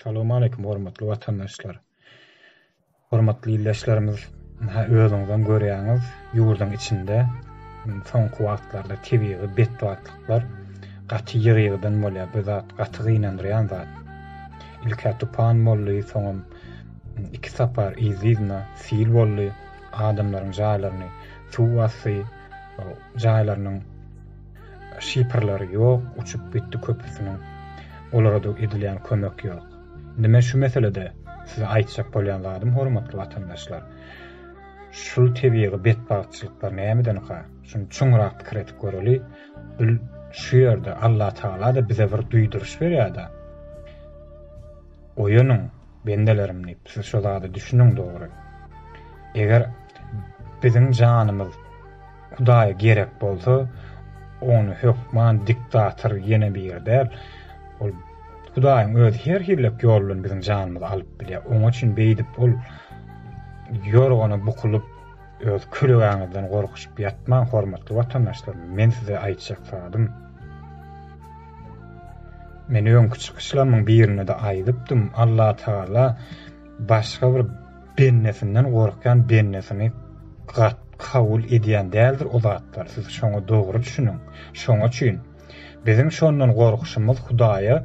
Salam aleýkum hormatly watandaşlar. Hormatly ildeşlerimiz, ha özüňizem görýäňiz, ýurduň içinde soňky wagtlarda tebigy betbagtlyklar gaty ýygy-ýygydan bolýar. Bu zat gaty gynandyrýan zat. Ilk-ä tupan boldy, soňam iki sapar yzly-yzyna sil boldy. Adamlaryň jaýlaryny suw basdy, jaýlarynyň Şiperleri ýok, uçup gitdi köpüsiniň. Olara-da edilýän kömek ýok. Indi men şu meselede size aýtjak bolýan zadym hormatly watandaşlar, şul tebigy betbagtçylyklar nämedenka? Şuny çuňrak pikir edip göreli. Bil şu ýerde Allatagala-da bize bir duýduryş berýär-de. Oýanyň, bendelerim diýip, siz şu zada düşüniň dogry. Eger biziň janymyz Hudaýa gerek bolsa, ony hökman diktator ýene biri däl, ol Hudaýyň özi her hillek ýol bilen biziň janymyzy alyp bilýär. Oňa üçin beýdip ol ýorgana bukulyp, öz küregäňizden gorkuşyp ýatmaň, hormatly watandaşlarym. Men size aýtjak zadym. Men öňki çykyşlarymyň birinde-de aýdypdym, Allatagala başga bir Bennesinden gorkýan bennesini gat kabul edýän däldir o zatlar siz şoňa dogry düşüniň şoňa çyn biziň şondan gorkuşymyz hudaýa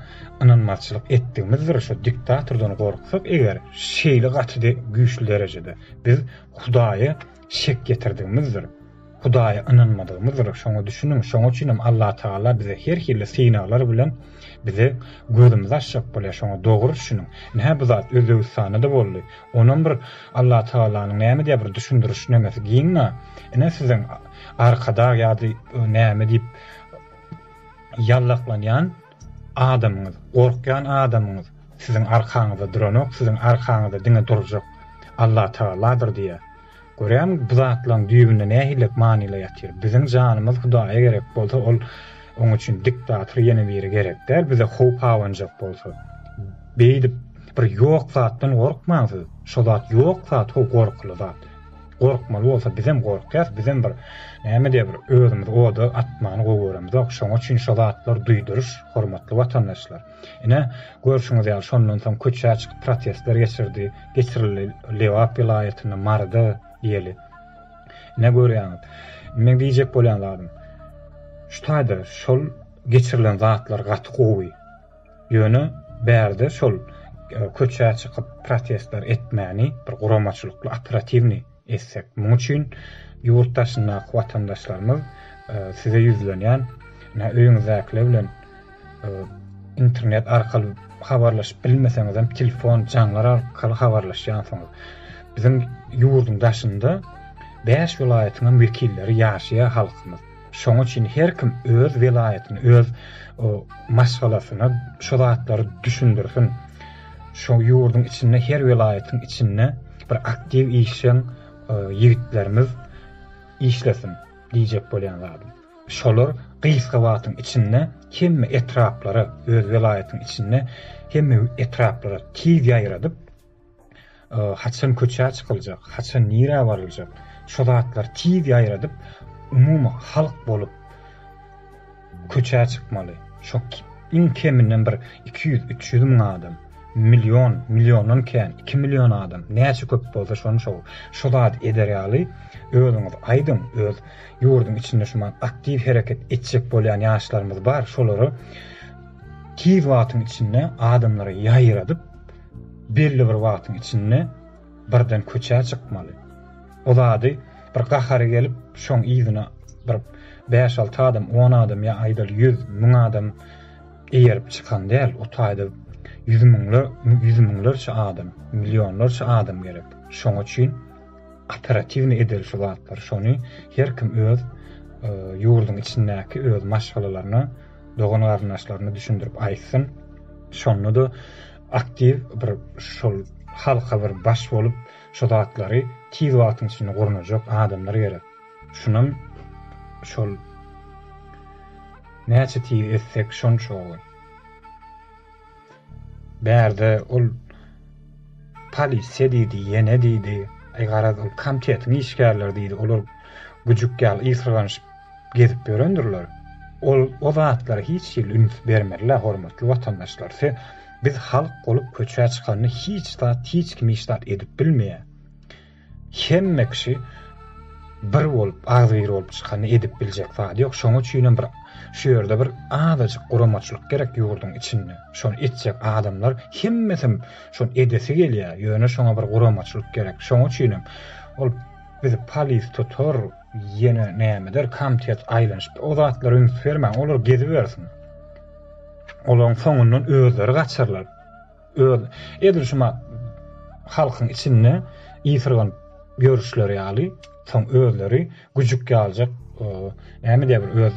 ynanmazçylyk etdigimizdir şo diktatordan gorksak eger şeýle gaty güýçli derejede biz hudaýa şek getirdigimizdir. Hudaýa ynanmadygymyzdyr. Şoňa düşüniň. Şoňa üçinem Allatagala bize her hili synaglar bilen bize gözümizi açjak bolýar. Şoňa dogry düşüniň. Ine-hä bu zat Özbegistanda-da boldy. Onam bir Allatagalanyň näme diýýär bir düşündiriş nemesi giňňä. Ine siziň Arkadag ýa-da näme diýip ýallaklanýan Adamyňyz, gorkýan adamyňyz siziň arkaňyzda duranok, siziň arkaňyzda diňe durjak Allatagaladyr diýýär. Görýäňmi, bu zatlaryň düýbünde nähilek manylar ýatyr. Biziň janymyz Hudaýa gerek bolsa, ol oň üçin diktator ýene biri gerek däl, bize howp abanjak bolsa. Beýdip bir ýok zatdan gorkmaň siz. Şo zat ýok zat, ho gorkuly zat. Gorkmaly bolsa bizem gorkýas, bizem bir näme diýe bir özümizi oda atmany gowy göremizok. Şoňa üçin şo zatlar duýduryş, hormatly watandaşlar. Ine, görşüňiz ýaly şondan soň köçä çykyp protestler geçirdi, geçirildi Lebap welaýatynda, Maryda diýeli. Ine görýäňiz. Meň diýjek bolýan zadym, şu taýda şol geçirilen zatlar gaty gowy. Ýöne bärde şol köçä çykyp protestler etmäni bir guramaçylykly operatiwnyý etsek. Muň üçin ýurt daşyndaky watandaşlarymyz size ýüzlenýän ine öýüňizdäkiler bilen internet arkaly habarlaşyp bilmeseňizem telefon jaňlar arkaly habarlaşýansyňyz. Biziň ýurduň daşynda bäş welaýatyňam wekilleri ýaşaýar halkymyz. Şoň üçin her kim öz welaýatyny, öz maşgalasyny şu zatlary düşündirsin. Şu ýurduň içinde her welaýatyň içinde bir aktiw işjeň ýigitlerimiz işlesin diýjek bolýan zadym. Şolar gysga wagtyň içinde hemme etraplara, öz welaýatyň içinde hemme etraplara tiz ýaýradyp, haçan köçä çykyljak, haçan nirä baryljak, şu zatlary tiz ýaýradyp, umumy halk bolup köçä çykmaly. Şo iň keminden bir 200-300 müň adam, million, milliondan kän, 2 million adam, näçe köp bolsa şony şo, şu zady eder ýaly özüňiz aýdyň, öz ýurduň içinde şu wagt aktiw hereket etjek bolýan ýaşlarymyz bar, şolary tiz wagtyň içinde adamlara ýaýradyp, Belli bir wagtyň içinde birden köçä çykmaly. O zady bir gahary gelip, şoň yzyna bir bäş-alty adam, on adam ýa aýdaly ýüz, müň adam eýerip çykan däl. O taýda ýüz müňle, ýüz müňlerçe adam, millionlarça adam gerek. Şoň üçin operatiwnyý edeli şu zatlary. Şony her kim öz ýurduň içindäki öz maşgalalaryna, dogan garyndaşlaryna düşündirip aýtsyn şonda da aktiw bir şol halka bir baş bolup şu zatlary tiz wagtyň içinde gurnajak adamlar gerek şunam şol näçe tiz etsek şonça gowy. Bärde ol polisiýa diýdi, ýene diýdi, aý garaz ol komitetiň işgärleri diýdi, olar güjük ýaly ysgyranyşyp gezip ýörendirler. Ol o zatlara hiç hili üns bermeli-le, hormatly watandaşlar. Se, biz halk bolup köçä çykanda hiç zat, hiç kim hiç zat edip bilmeýär. Hemme kişi bir bolup, agzybir bolup çykanda edip biljek zady ýok. Şonuň üçinem bir şu ýerde bir azajyk guramaçylyk gerek ýurduň içinde. Şony etjek adamlar hemmesem şony edesi gelýär. Ýöne şoňa bir guramaçylyk gerek. Şonuň üçinem ol bizi polis tutar, ýene näme eder, komitet aýlanyşyp o zatlara üns bermäň, olar gezibersin. Olaryň soňundan özleri gaçarlar. öz edil şuma halkyň içinde ýysyrganyp ýörüşleri ýaly soň özleri güjük ýaljak näme diýer bir öz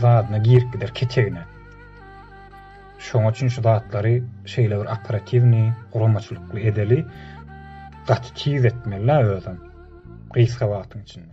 zadyna girip gider ketegine. Şoňa üçin şu zatlary şeýle bir operatiwni, guramaçylykly edeli gaty tiz etmeli özem. Gysga wagtyň içinde.